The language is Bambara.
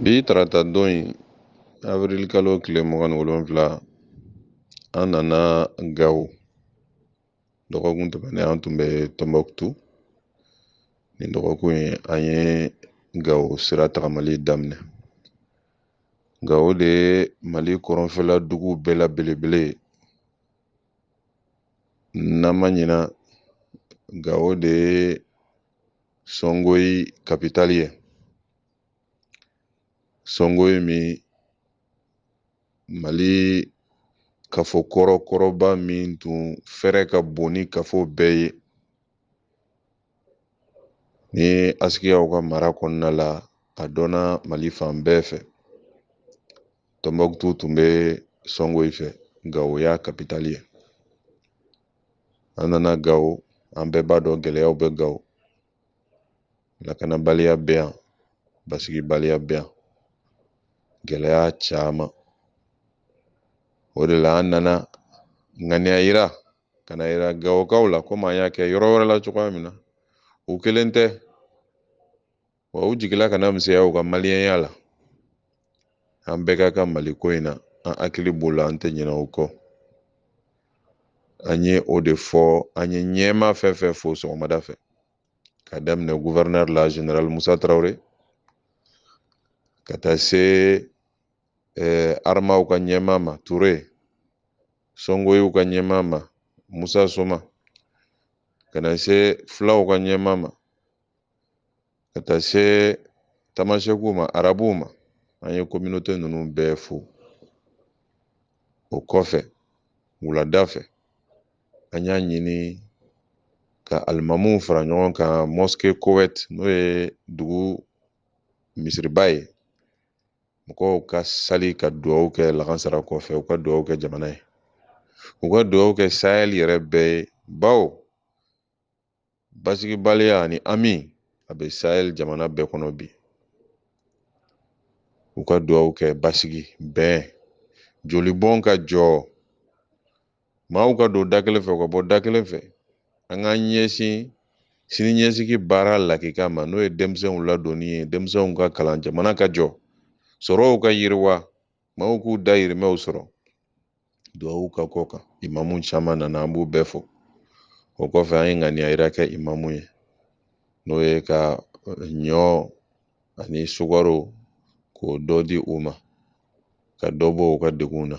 Bi tarata don in avril kalo tile mugan ni wolonwula an nana gawo dɔgɔkun tɛmɛnen an tun bɛ tɔnbɔkutu nin dɔgɔkun in an ye gawo sira tagamali daminɛ gawo de ye mali kɔrɔnfɛla dugu bɛɛ la belebele ye n'an ma ɲina gawo de ye sɔngoyi kapitali ye sɔngoyi min mali kafo kɔrɔkɔrɔba min tun fɛrɛ ka bon ni kafo bɛɛ ye Ni ye asikiyaw ka mara kɔnɔna la a dɔnna mali fan bɛɛ fɛ tɔnbɔkutu tun bɛ sɔngoyi fɛ gawo y'a kapitali ye an nana gawo an bɛɛ b'a dɔn gɛlɛyaw bɛ gawo lakanabaliya bɛ yan basigibaliya bɛ yan gɛlɛya caman o de la an nana ŋaniya yira ka n'a yira gawokaw la komi an y'a kɛ yɔrɔ wɛrɛ la cogoya min na u kelen tɛ wa u jigila kana misɛnya u ka maliyɛnya la an bɛɛ ka kan mali ko in na an hakili b'o la an tɛ ɲinɛ o kɔ an ye o de fɔ an ye ɲɛmaa fɛn fɛn fo sɔgɔmada fɛ ka daminɛ guvɛrɛnɛri la general musa tarawele ka taa se eh, aramaw ka ɲɛmaa ma ture sɔngoyiw ka ɲɛmaa ma musa soma ka na se fulaw ka ɲɛmaa ma ka taa se tamasɛkuw ma arabuw ma an ye kominote ninnu bɛɛ fo o kɔfɛ wulada fɛ an y'a ɲini ka alimamuw fara ɲɔgɔn kan mosque kowɛt n'o ye dugu misiriba ye mɔgɔw ka sali ka dugawu kɛ lakansara kɔfɛ u ka dugawu kɛ jamana ye u ka dugawu kɛ sahɛl yɛrɛ bɛɛ ye bawo basigibaliya ani hami a bɛ sahɛl jamana bɛɛ kɔnɔ bi u ka dugawu kɛ basigi bɛn jolibɔn ka jɔ maaw ka don da kelen fɛ u ka bɔ da kelen fɛ an k'an ɲɛsin sini ɲɛsigi baara lakika ma n'o ye denmisɛnw ladonni ye denmisɛnw ka kalan jamana ka jɔ sɔrɔw ka yiriwa maaw k'u dayirimɛw sɔrɔ duwawu ka k'o kan imamu caman nana an b'u bɛɛ fo o kɔfɛ an ye ŋaniya yira kɛ imamuw ye n'o ye ka ɲɔ ani sukaro k'o dɔ di u ma ka dɔ bɔ u ka degun na